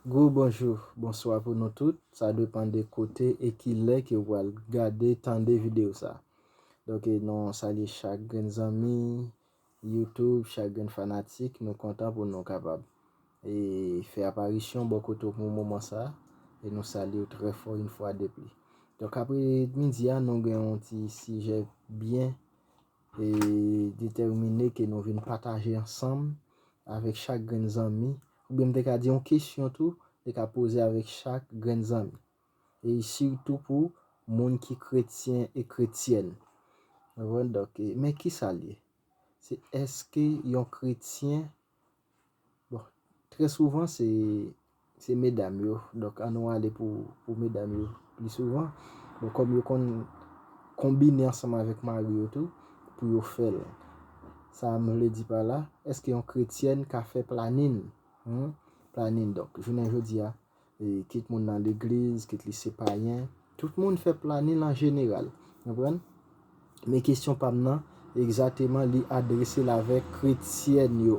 Gwo bonjou, bonswa pou nou tout, sa depan de kote e ki lè ke ou pral gade, tande videyo sa. Donk e nou salye chak grenn zanmi YouTube, chak grenn fanatik, nou kontan pou nou kapab e fè aparisyon bò kote ou pou moman sa e nou salye ou trè fò yon fwa depli. Donk apre midi a nou gen yon ti sijè byen. E detèmine ke nou vin pataje ansanm avèk chak grenn zanmi, oubyen m te ka di yon kesyon tou, te ka poze avèk chak grenn zanmi. E sitou pou moun ki kretyen e kretyèn. Ou konprann? Donk, men kisa l ye? Se èske yon kretyen. Bon, trè souvan se se medam yo, donk an nou ale pou pou medam yo pli souvan. Bon, kòm yo konn konbine ansanm avèk mari yo tou pou yo fè l. Sa m vle di pa la, èske yon kretyèn ka fè planin? Humm, planin. Donk, jounen jodi a, Kit moun nan legliz, kit li se payen. Tout moun fè planin an jeneral. Konprann? Men kesyon pa m nan, egzateman li adrese l avè kretyèn yo.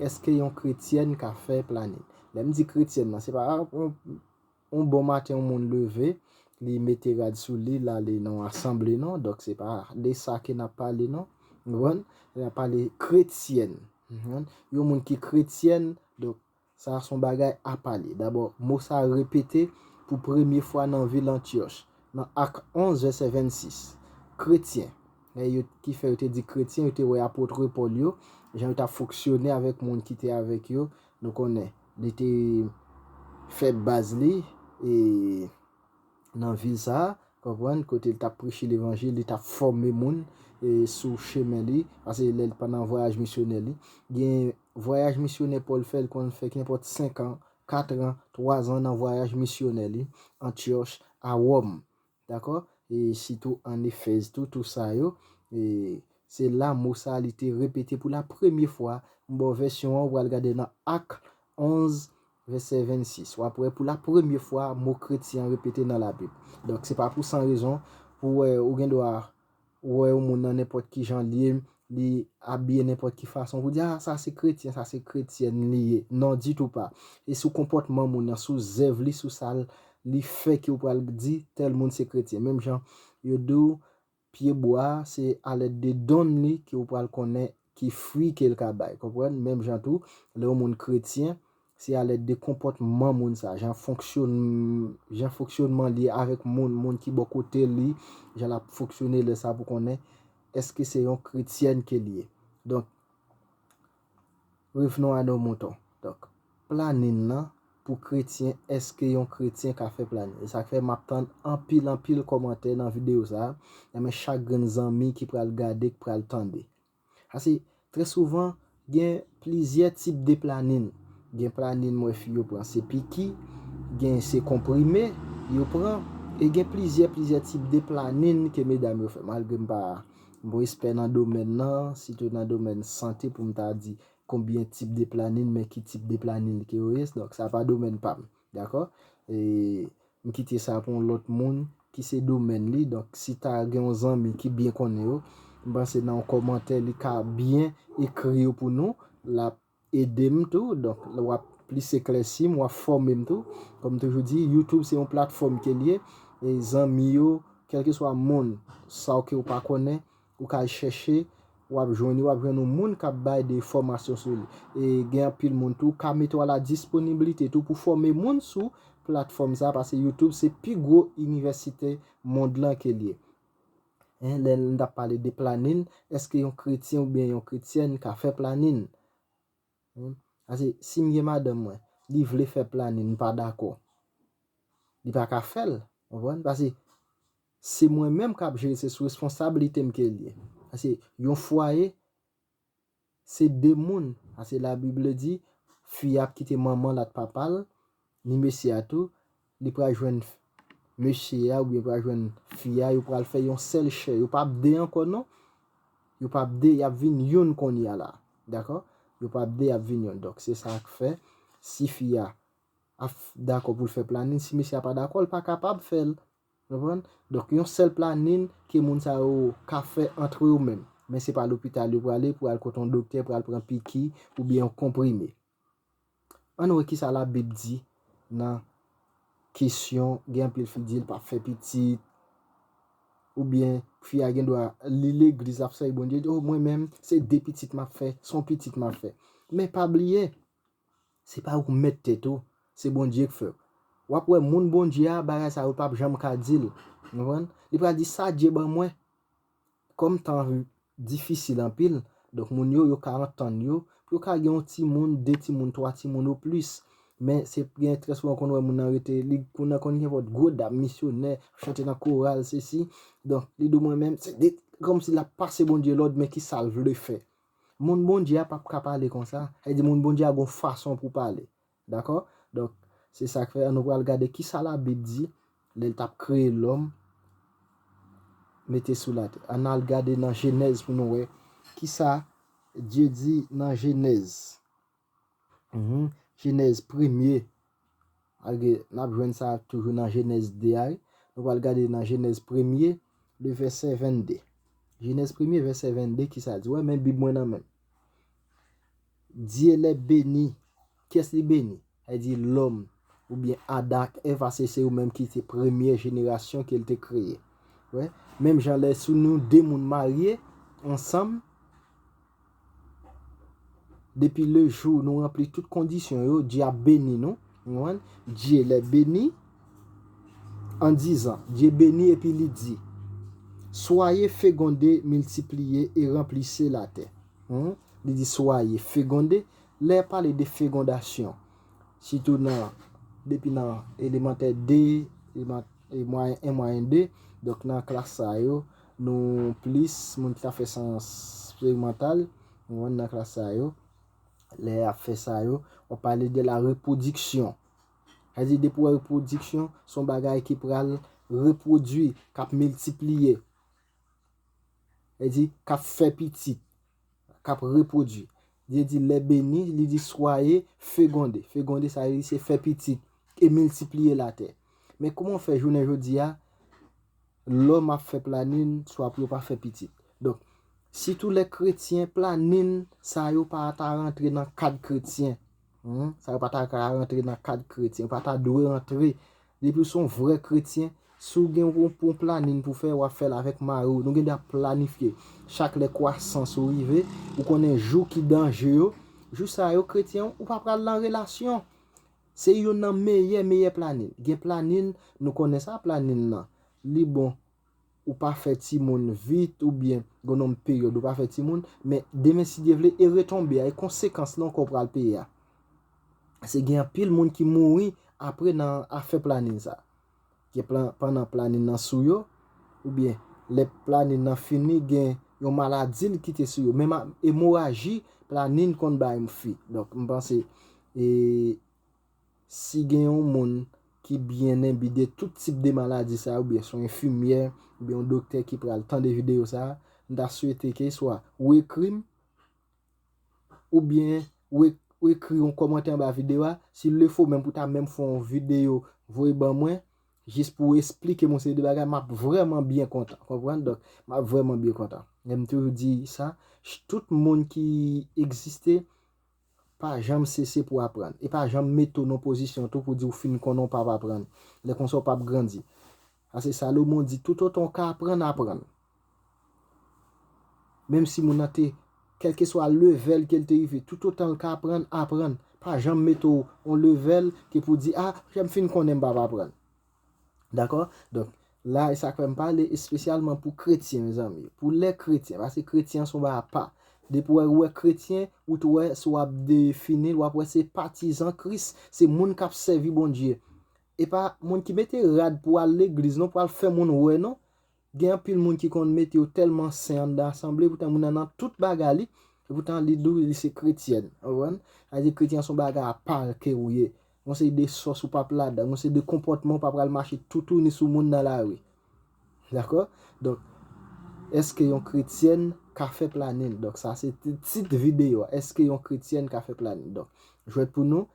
Eske yon kretyèn ka fè planin? Lè m di kretyèn nan, se pa yon bon maten yon moun leve, li mete rad sou li, l ale nan yon asanble non. Donk se pa de sa ke n ap pale non. Konprann? N ap pale kretyèn. Yon moun ki kretyèn, donk Sa a son bagay a pale. Dabò, mo sa a repete pou premye fwa nan vil Antyòch, nan Ak 11, vèsè 26. Kretyen, e yo, ki fè yo te di kretyen, yo te wè apotre Pòl yo, jan yo t ap fonksyone avèk moun ki te avèk yo, nou konnen, li te fè baz li, e, nan vil sa a, konprann, kote li t ap preche levanjil, li t ap fòme moun sou chemen li, pase lè l pandan vwayaj misyonè li. Gen vwayaj misyonè Pòl fè, li konn fè kenpòt senkan, katran, twazan nan vwayaj misyonè li, Antyòch, a Wòm. Dakò? E sitou ann Efèz tou, tou sa yo. E se la mo sa a li te repete pou lapremye fwa. M ba w vèsyon an, ou pral gade nan Ak 11, Vèsè 26, w ap wè pou lapremye fwa mo kretyen an repete nan Labib. Donk, se pa pou san rezon pou w wè ou gen dwa wè yon moun nan nenpòt ki jan l ye, li abiye nenpòt ki fason pou w di, A, sa se kretyen, sa se kretyèn li ye. Non, ditou pa! Se sou konpòtman moun nan, sou zèv li, sou sa li fè ke w pral di tèl moun se kretyen. Menm jan yo di w Pye bwa a, se alèd de don li ke ou pral konnen ki fwi ke l ka bay. Konprann? Menm jan tou, lè yon moun kretyen, se alèd de konpòtman moun sa a, jan fonksyonn, jan fonksyònman li avèk moun, moun ki bò kote li, jan l ap fonksyone lè sa a pou konnen èske se yon kretyèn ke l ye. Donk. Revenons à nos moutons. Donk, planin lan pou kretyen eske yon kretyen ka fè planin? E sak fè map tann anpil anpil kòmantè nan video sa a nan men chak grenn zanmi ki pral gade k pral tande. Pase trè souvan gen plizyè tip de planin. Gen planin m wè fi yo pran se piki, gen se konprime yo pran e gen plizyè plizyè tip de planin ke medam yo fè malgre m pa Bon espè nan domèn nan, sitou nan domèn sante pou m ta di konbyen tip de planin men ki tip de planin ke yo ye, donk sa pa domèn pa m. Dakò? E m kite sa pou yon lòt moun ki se domèn li, donk si ta gen yon zanmi ki byen konnen yo, m panse nan yon kòmantè li ka byen ekri yo pou nou, l ap ede m tou donk wap plis eklèsi m wap fòme m tou kòm toujou di youtube se yon platfòm ke l ye e zanmi yo kèlkeswa moun sa w ke w pa konnen ou ka al chèche wap jwenn yo wap jwenn yon moun kap bay de fòmasyon sou li e gen anpil moun tou kame tou a la disponibilite tou pou fòme moun sou platfòm sa paske youtube se pi gwo inivèsite mond lan ke l ye. Hein lè n ap pale de planin eske yon kretyen ou byen yon kretyèn ka fè planin? Hein pase si m gen madanm mwen li vle fè planin m pa dakò li pa ka fè l ou konprann pase se mwen menm k ap jere se sou responsablite m ke l ye pase yon fwaye se de moun pase la bible di fi a ap kite manmanl ak papal ni mesye a tou li pral jwenn mesye a oubyen pral jwenn fi a yo pral fè yon sèl chè yo pap de ankò non yo pap de yap vin youn konnya la dakò yo pap de yap vin youn donk se sak fè si fi a ap dakò poul fè planin si mesye a pa dakò li pa kapab fèl. Konprann? Donk yon sèl planin ke moun sa yo ka fè antre yo menm. Men se pa lopital yo prale pou al kote yon doktè pral pran piki oubyen yon konprime. An nou wè kisa la bib di nan kesyon gen anpil fi di l pap fè pitit oubyen fi a gen dwa li legliz lap sèvi Bondye li di oh mwen menm se 2 pitit map fè, son pitit map fè. Men pa bliye. Se pa ou k mèt tèt ou, se Bondye k fè w. W ap wè moun Bondye a, bagay sa yo p ap janm ka di l. Nou konprann? Li pral di, sa Dye ban mwen. Kòm tan an difisil anpil, donk moun yo, yo ka antann yo, pou yo ka gen yon timoun, de timoun, twa timoun o plis. Men, se gen trè souvan ou konn wè moun nan rete, li moun nan konn gen vòt gwo dam, misyonè, ap chante nan koral, sesi. Donk, li di w mwen menm, se de, kòmsi l ap pase Bondye lòd, men ki sa l vle fè. Moun Bondye a pap ka pale konsa. Sa vle di moun Bondye a gen yon fason pou pale. Dakò? Donk, se sa k fè nou pral gade ki sa Labib di lè l t ap kreye lòm mete sou latè. Ann al gade nan Jenèz pou nou wè ki sa Bondye di nan Jenèz. Jenèz premye, n ap jwenn sa toujou nan Jenèz 2 a wi. Nou pral gade nan Jenèz premye, le vèsè 22. Jenèz premye, vèsè 22, ki sa l di? Ou wè men Bib mwen nan men m. Dye lè beni, ki yès li beni? Sa vle di lòm oubyen Adan ak Èv a se se yo menm ki te premye jenerasyon ke l te kreye. Ou wè? Menm jan lè sou nou de moun marye ansanm. Depi le jou nou ranpli tout kondisyon yo, Dye ap beni nou. Dye lè beni, an dizan, Dye beni epi li di, Soye fegonde, miltipliye, e ranplise latè. Li di soye fegonde, lè ya pale de fegondasyon, sitou nan, depi nan elemantè 2, mwayen 1, mwayen 2, donk nan klas sa yo, Nou plis moun ki ta fè sans sperimantal, nou konprann nan klas sa yo, lè ap fè sa yo, w ap pale de la repwodiksyon. Sa di depi w wè repwodiksyon, s on bagay ki pral repwodui, k ap miltipliye. Sa di, k ap fè pitit. k ap repwodui. Bndye di lè beni, li di swaye fegonde. Fegonde sa vle di se fè pitit e miltipliye latè. Men kouman w fè jounen jodi a, lòm ap fè planin swa pou yo pa fè pitit. Donk, sitou lè kretyen planin sa yo pa ta rantre nan kad kretyen. Humm sa yo pa ta ka rantre nan kad kretyen, yo pa ta dwe rantre. Depi ou se yon vrè kretyen, si ou gen yon planin pou fè, wap fèl avèk mari ou. Nou gen dwa ap planifye chak lè kwasans ou rive, ou konnen jou ki danje yo. Jou sa yo kretyen ou pa pral nan relasyon. Se youn nan meyè meyè planin. Gen planin, nou konnen sa planin nan. Li bon. ou pa fè timoun vit ou byen g'on nonm peryòd ou pa fè timoun, men demen si Dye vle e retonbe a, e konsekans lan ke w pral peye a. Se gen anpil moun ki mouri apre nan afè planin sa. Gen plan pandan planin nan sou yo, ou byen lè planin nan fini gen yon maladi li kite sou yo. Menm a emoraji planin konn bay m fi. Donk m panse e Si gen yon moun ki byen enbi de tout tip de maladi sa yo oubyen son enfimyè oubyen yon doktè ki pral tande videyo sa, m ta swete ke swa ou ekri m oubyen ou ekri yon kòmantè anba videyo a, si le fo menm pou ta menm fè yon videyo voye ban mwen jis pou w esplike m yon seri de bagay, m ap vrèman byen kontan. Konprann? Donk, m ap vrèman byen kontan. E m toujou di sa, tout moun ki egziste, Pa janm sese pou aprann. E pa janm mete w nan pozisyon tou pou di w fin konnen w pap aprann. Lè konsa w pap grandi. Pase Salomon di, Toutotan w ka aprann, aprann. Menm si moun nan te, kèlkeswa levèl ke l te rive, toutotan l ka aprann, aprann. Pa janm mete w yon levèl ke pou di, a, lè m fin konnen m pap aprann. Dakò? Donk, la, e sa k fè m pale espesyalman pou kretyen, mezanmi yo. Pou lè kretyen, paske kretyen an se yon bagay apa. Depi wè ou wè kretyen, ou tou wè si w ap defini l, w ap wè se patizan Kris, se moun k ap sèvi Bondye. E pa moun ki mete rad pou al legliz non, pou al fè moun wè non. Gen anpil moun ki konn mete yo tèlman sen anndan asanble poutan moun nan nan tout bagay li, epoutan li di w li se kretyèn. Ou konprann? Sa vle di kretyen an se yon bagay apa ke ou ye. Gon seri de sòs ou p ap ladan, gon seri de konpòtman ou pa pral mache toutouni sou moun nan lari. Dakò? Donk, èske yon kretyèn ka fè planin? Donk sa se tit videyo a, Èske yon kretyèn ka fè planin? Donk, jwèt pou nou.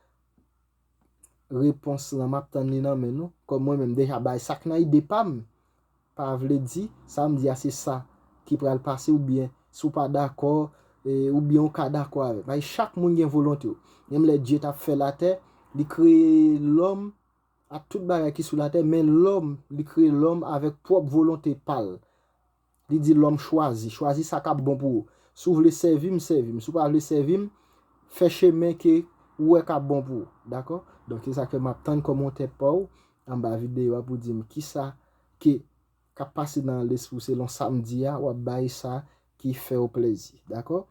repons lan map tann li nan men nou kòm mwen menm deja bay sak nan ide pam pa vle di sam di a se sa ki pral pase ou byen si w pa dakò ou byen ou ka dakò avèm paske chak moun gen volonte w menm lè Dye tap fè latè li kreye lòm ak tout bagay ki sou latè men lòm li kreye lòm avèk pwòp volonte pal. Li di lòm chwazi, chwazi sa k'ap bon pou ou. Si w vle sèvi m, sèvi m. Si w pa vle sèvi m, fè chemen ke ou wè k'ap bon pou ou. Dakò? Donk se sa k fè m'ap tann kòmantè pa w anba videyo a pou w di m kisa ke k'ap pase nan lespri w selon sa m di a, w'ap bay sa ki fè w plèzi. Dakò?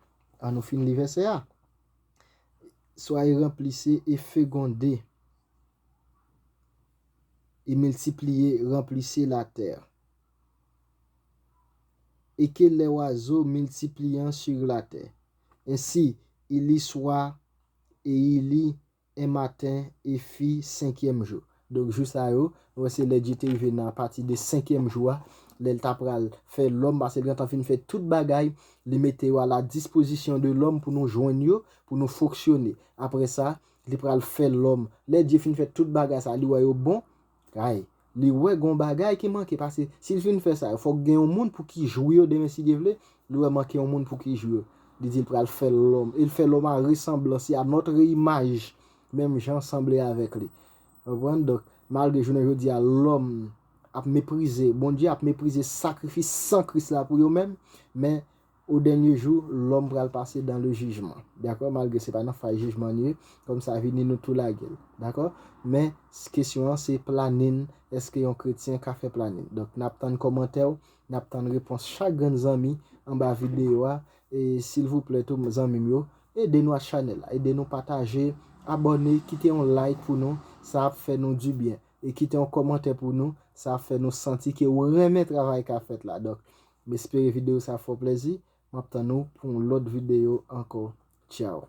An nou fin li vèsè a. Soyez remplissez et fecondez et multipliez, remplissez la terre. e ke lè wazo miltipliyan sur la tè. Ensi, ili swa, e ili, en maten, e fi, senkyèm jou. Donk jou sa yo, nou wè se lè Dye te rive nan apati de senkyèm jou a, lè l ta pral fè lòm, pase l gentan fin fè tout bagay, li mete yo a la dispozisyon de lòm pou nou jwenn yo, pou nou fonksyone. Apre sa, li pral fè lòm. Lè Dye fin fè tout bagay sa, li wè yo bon. Kay. Li wè gon bagay ki manke pase si l fin fè sa yo fòk gen yon moun pou ki jwi yo demen si Dye vle, li wè manke yon moun pou ki jwi yo. Li di l pral fè lòm e l fè lòm a resanblans li a notre image menm jan sanble avèk li. Konprann? Donk, malgre jounen jodi a lòm ap meprize Bondye, ap meprize sakrifis san Kris la pou yo menm, men O dènye jou, lòm pral pase dan le jijman. Dakò? Malgre se pa nan faz jijman n ye, kòm sa vini nou tou lage l. Dakò? Men, kesyon an se planin, èske yon kretyen ka fè planin? Donk, n ap tann kòmantè w, n ap tann repons chak grenn zanmi anba videyo a. E, silvouplè tou, zanmi m yo, ede nou ak chanèl la. Ede nou pataje, abòne, kite yon like pou nou, sa ap fè nou di byen. E kite yon kòmantè pou nou, sa ap fè nou santi ke ou renmen travay k ap fèt la. Donk, M espere video sa fè w plezi. Map tann ou pou yon lòt video ankò. Ciao.